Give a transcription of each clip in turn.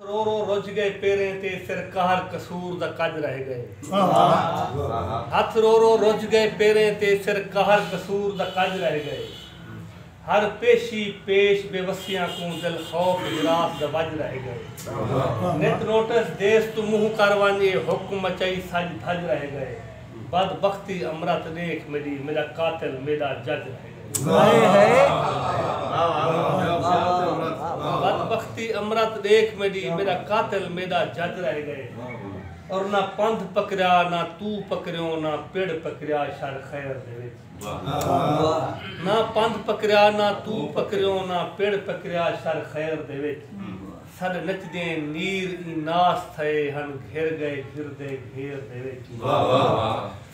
رو رو رج گئے پیریں تے فر قہر قصور دا کج رہ گئے۔ ہتھ رو رو رج گئے پیریں تے فر قہر قصور دا کج رہ گئے۔ ہر پیشی پیش بے وسیاں کوں دل خوف ہراس دا وج رہ گئے۔ نت نوٹس دیس توں منہ کر ونج اے حکم مچائی سج دھج رہ گئے۔ بد بختی امرت ڈیکھ میڈی میڈا قاتل میڈا جج رہ گئے اور نہ پندھ پکریا نہ تو پکریوں نہ پڑ پکریا شر خیر دے وچ نہ پندھ پکریا نہ تو پکریوں نہ پڑ پکریا شر خیر دے وچ سݙ نچدیں نیر ایں ناس تھئے ہن گھر ڳئے گھر دے گھیر دے وچ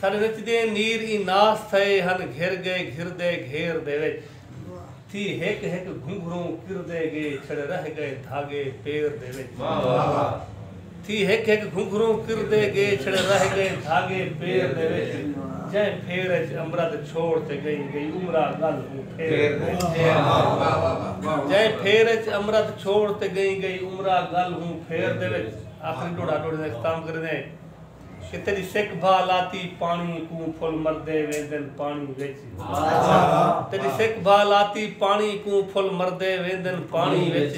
سݙ نچدیں نیر ایں ناس تھئے ہن گھر ڳئے گھر دے گھیر دے وچ تھی ہک ہک گھنگھروں کردے ڳے چھڑ رہ ڳئے دھاڳے پیر دے وچ۔ تھی ہک ہک گھنگھروں کردے گے چھڑے رہ گئے دھاگے پیر دے وچ جئیں پھیر اچ امرت چھوڑ تے گئیں گئی عمرا گل ہوں پھیر دے جئیں پھیر اچ امرت چھوڑ تے گئیں گئی عمرا گل ہوں پھیر دے وچ آخری ڈوڑا ڈوڑی دا اختتام کریں دے کہ تیری سکھ بھا لاتی پانی کوں پھل مردے ویندن پانی وچ تیری سکھ بھا لاتی پانی کوں پھل مردے ویندن پانی وچ۔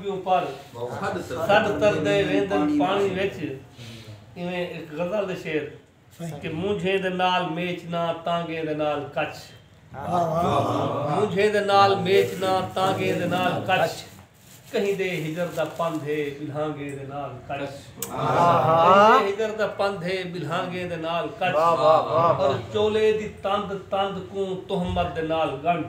ٻیوں پڑھ سݙ تردے ویندن پاݨی وچ ایویں اک غزل دے شعر کہ مونجھیں دے نال میچ نہ تانگیں دے نال کچھ مونجھیں دے نال میچ نہ تانگیں دے نال کچھ کہیں دے ہجر دا پندھ ہے بلہانگیں دے نال کچھ کہیں دے ہجر دا پندھ ہے بلہانگیں دے نال کچھ اور چولے دی تند تند کوں تہمت دے نال گنڈھ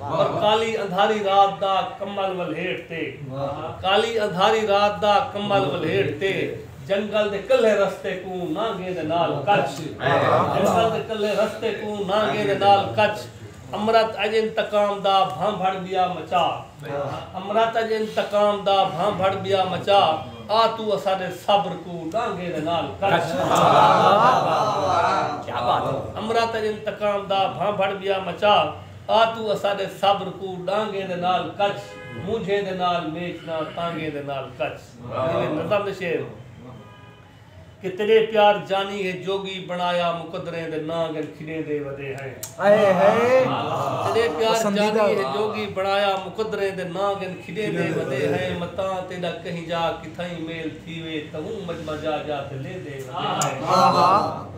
اور کالی اندھاری رات دا کمبل ولھیٹ تے کالی اندھاری رات دا کمبل ولھیٹ تے جنگل دے کلھے رستے کوں نانگیں دے نال کچ جنگل دے کلھے رستے کوں نانگیں دے نال کچ امرت اج انتقام دا بھانبھڑ ٻیا مچا امرت اج انتقام دا بھانبھڑ ٻیا مچا آ توں اساݙے صبر کوں نانگیں دے نال کچ امرت اج انتقام دا بھانبھڑ ٻیا مچا آ توں اساڈے صبر کوں ڈانگیں دے نال کچھ مونجھیں دے نال میچ نہ تانگیں دے نال کچھ جیویں نظم دے شعر ہن کہ تیڈے پیار جانی ہے جوگی بنایا مقدریں دے نانگن کھڈیں دے ودے ہیں تیڈے پیار جانی ہے جوگی بنایا مقدریں دے نانگن کھڈیں دے ودے ہیں متاں تیڈا کہیں جا کتھائیں میل تھیوے تہوں مجمع جا جا تے لیندے ودے ہیں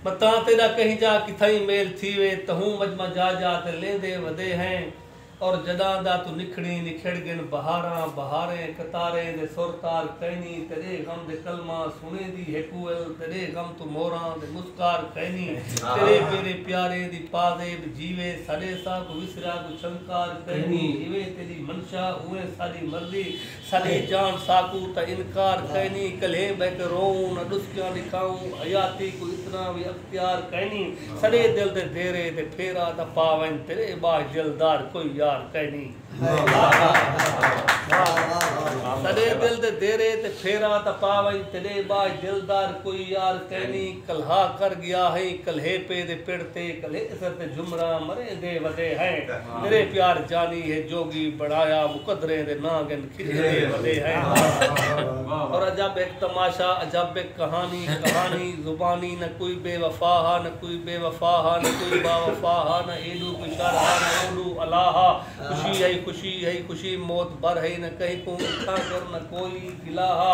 میں تاں تیݙا کہیں جا کتھائیں میل تھیوے تہوں مجمع جا جا تے لیندے ودے ہیں اور جݙاں دا توں نکھڑیں نکھڑ ڳن بہاراں بہاریں قطاریں دے سر تار کئنی تیݙے غم دے کلماں سݨیندی ہیکوئل تیݙے غم توں موراں دے مسکار کئنی تیݙے پیریں پیاریں دی پازیب جیوے ساݙے ساکوں وسریا کوں چھنکار کئنی جیویں تیݙی منشا اونویں ساݙی مرضی سلے جان ساکو تاں انکار کائنی کلھے بہہ کے روؤں نہ ڈسکیاں ڈکھاؤں حیاتی کوں اتنا وی اختیار کائنی سلے دل دے دیرے تے پھیرا تاں پا ونج تیرے باش جلدار کوئی یار کائنی سلے دل دے دیرے تے پھیرا تاں پا ونج تیرے باش جلدار کوئی یار کائنی کلھا کر گیا ہئیں کلھے پے دے پڑ تے کلھے اسر تے جھمراں مرے دے وڈے ہیں میرے پیار جانی ہے جوگی بنایا مقدریں دے ناں گن کھجے دے وڈے ہیں اور عجب ہک تماشا عجب ہک کہانی کہانی زبانی نہ کوئی بے وفا ہا نہ کوئی بے وفا ہا نہ کوئی با وفا ہا نہ ایڈو کوئی شر ہا نہ اوڈو الا ہا خوشی ہئی خوشی ہئی خوشی موت بھر ہئی نہ کہیں کوں اتھاں کر نہ کوئی گلا ہا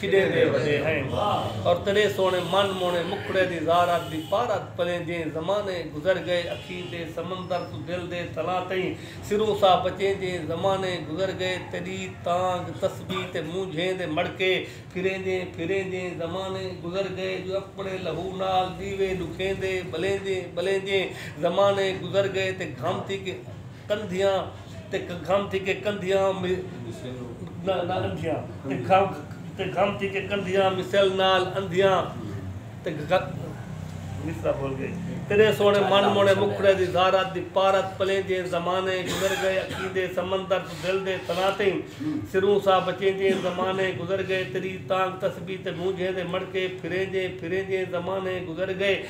کھݙے دے وݙے ہیں اور تیݙے سوہݨے من موہݨے مکھڑے دی زارت دی پارت پلیں جئیں زمانے گزر ڳئے اکھیں دے سمندر توں دل دے تلاں تئیں سروں ساہ بچیں جئیں زمانے گزر ڳئے تیݙی تانگھ تسبیح تے مونجھیں دے مڑکے پھریں جئیں پھریں جئیں زمانے گزر ڳئے جو اپݨے لہو نال ݙیوے ݙکھیں دے ٻلیں جئیں ٻلیں جئیں زمانے گزر ڳئے تے گھم تھی کے کندھیاں تے گھم تھی کے کندھیاں مثل نال اندھیاں تیݙے سوہݨے من موہݨے مکھڑے دی زارت دی پارت پلینجھیں زمانے گزر گئے اکھیندے سمندر توں دل دے تھنا تئیں سروں ساہ بچینجھیں زمانے گزر گئے تیݙی تانگھ تسبیح تے گونجھیں دے مݨکے پھرینجھیں پھرینجھیں زمانے گزر گئے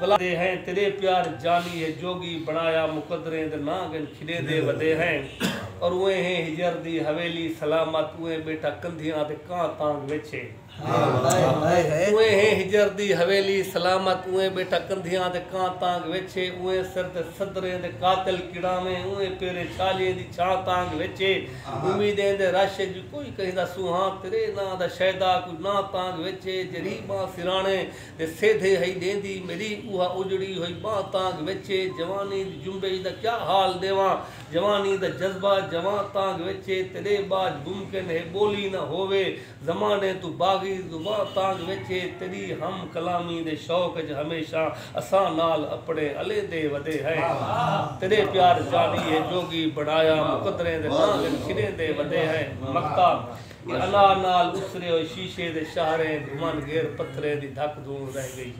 ودے ہیں تیرے پیار جانی ہے جوگی بنایا مقدریں دے ناں گن کھلے دے ودے ہیں اور اوئے ہیں ہجر دی حویلی سلامت اوئے بیٹھا کندھیاں تے کاں تانگ وچ ہے اوئے ہیں ہجر دی حویلی سلامت اوئے بیٹھا کندھیاں تے کاں تانگ وچ ہے اوئے سر تے صدریں دے قاتل کڑاویں اوئے پیرے چھالیے دی چھاں تانگ وچ ہے امیدیں دے رش وچ کوئی کہیں دا سوہاں تیرے ناں دا شیدا کوئی ناں تانگ وچ ہے جریباں سرانے تے سیدھے ہئی ݙیندی میݙی اوہا اجڑی ہوئی ٻانہہ تانگھ وچ اے جوانی دی جنبش دا کیا حال ݙیواں جوانی دا جذبہ جوان تانگھ وچ اے تیݙے ٻاجھ ممکن ہے ٻولی نہ ہووے زمانے توں باغی زباں تانگھ وچ اے تیݙی ہم کلامی دے شوق اچ ہمیشاں اساں نال اپݨے الیندے ودے ہیں تیݙے پیار جانی ہے جوڳی بݨایا مقدریں دے ناں گھن کھݙیندے ودے ہیں مکتاب کہ الا نال اسرے ہوئے شیشے دے شاہریں گھمن گھر پتھریں دی دھک دھون رہ گئی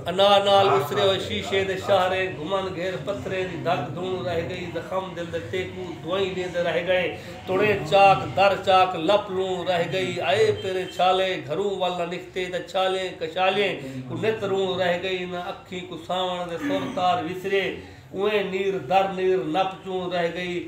انا نال اسرے ہوئے شیشے دے شاہریں گھمن گھر پتھریں دی دھک دھون رہ گئی زخم دل دے تیکو دوائیں دیندے رہ گئے تڑیں چاک در چاک لپ لوں رہ گئی اے پیرے چھالے گھروں ول نہ نکھتے تاں چھالیں کشالیں کوں نت روں رہ گئی نہ اکھیں کوں ساون دے سر تار وسرے اوئیں نیر در نیر نپ چوں رہ گئی